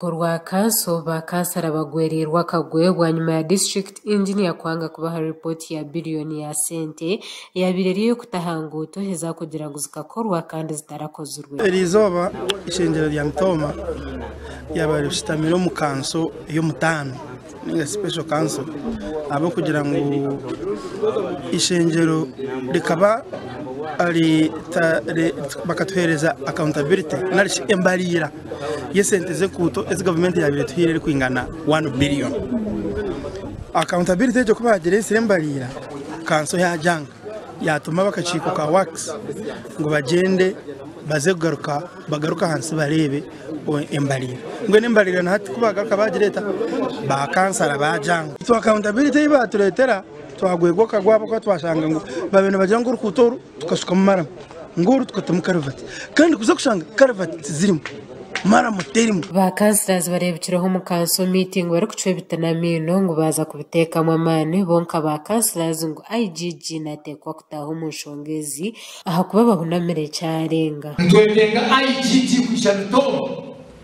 Orwa kanso ba kansara bagwereirwe akagwe bwanyima ya district engineer kwanga kubaha report ya billion ya sente eyabaire eri eyokutaha nguuto ezakugira ngu zikakorwa kandi zitarakozirwe. Eri izooba eishengyero rya Mitooma ryabaire rishutamire omu kanso ey'omutaano. ninga special council ahabw'okugira ngu ishengyero rikaba bakatuheereza accountability nari shi embariira y'esente z'enkuuto ezi gavumenti yaabaire etuhaire erikwingana one billion. Accountability egyo ku baagireetsire embariira kanso yaagyanga. Yaatuma ab'akakiiko ka Works ngu bagyende baze kugaruka bagaruke ahansi bareebe embariira. Mbwenu embariira na hati ku baagaruka baagireeta, baakansara baajanga. Itwe akawuntabiriti ei baatureetera twagwegwa okagwa ahabw'okuba twashanga ngu baabaire nibagira ngu orukuuto oru tukashukamu maramu. Ngu oru tukatamu karavati kandi kuza kushanga karavati tizirimu, maramu terimu. Ba councillors bareebikireho omu council meeting barikucwa ebiti n'amaino ngu baaza kubiteekamu amaani bo nka ba councillors ngu IGG naateekwa kutaaha omu nshonga ezi ahakuba bahunamire kyarenga. Nitweteenga IGG kwija Mitongo.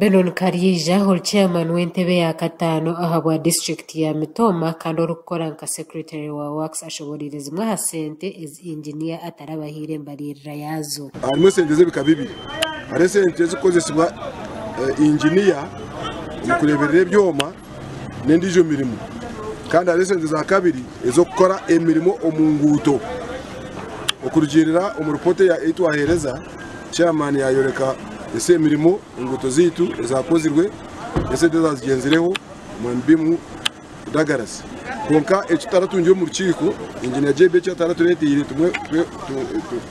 Benon Karyeija ori Chairman w'entebe ya kataano ahabwa District ya Mitooma kandi orikukora nka Secretary wa Works ashoboreire zimwe aha sente ezi Engineer atarabahaire embariirira yaazo. Harimu esente z'ebika bibiri. Hariho esente ezirikukozesibwa Engineer omu kureeberera ebyoma. n'endiijo mirimo kandi hariho esente za kabiri ez'okukora emirimo omu nguuto. Okurugiirira omu ripooti ei twaheereza, chairman yaayoreka esi emirimo enguuto zaitu ezaakozirwe n'esente ezaazigyenzireho omwami Bimu Douglas. Kwonka eki tutaratungire omu rukiiko, Engineer JB eki ataratureeteire tumwe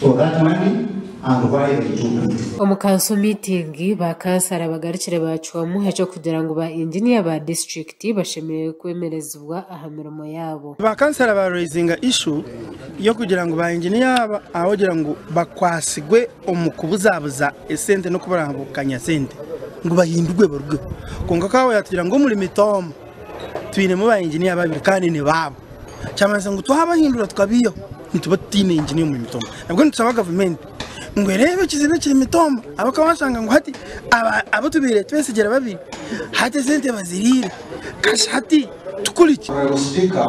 For that money and why they took it. Omu kanso miitingi, ba kansara bagarukire baacwamu eky'okugira ngu ba inginiya ba disiturikiti bashemereire kwemerezibwa aha mirimo yaabo. Ba kansara ba raizinga ishu y'okugira ngu ba inginiya aba ahogira ngu bakwasigwe omu kubuzabuza esente n'okuburabukanya sente ngu bahindurwe barugeho. Kwonka Kawooya atugira ngu omuri Mitoomo, Twinemu ba engineer babiri kandi ni baabo kyamanyisa ngu twabahindura tukabaihaho nituba tutaine engineer omuri Mitombo nabwo nitusaba gavumenti ngu ereebe ekizibu ekiri Mitombo ahabw'okuba washanga ngu hati abu tubaire twesigyire babiri hati esente baziriire kashi hati tukoreki? Honourable Speaker,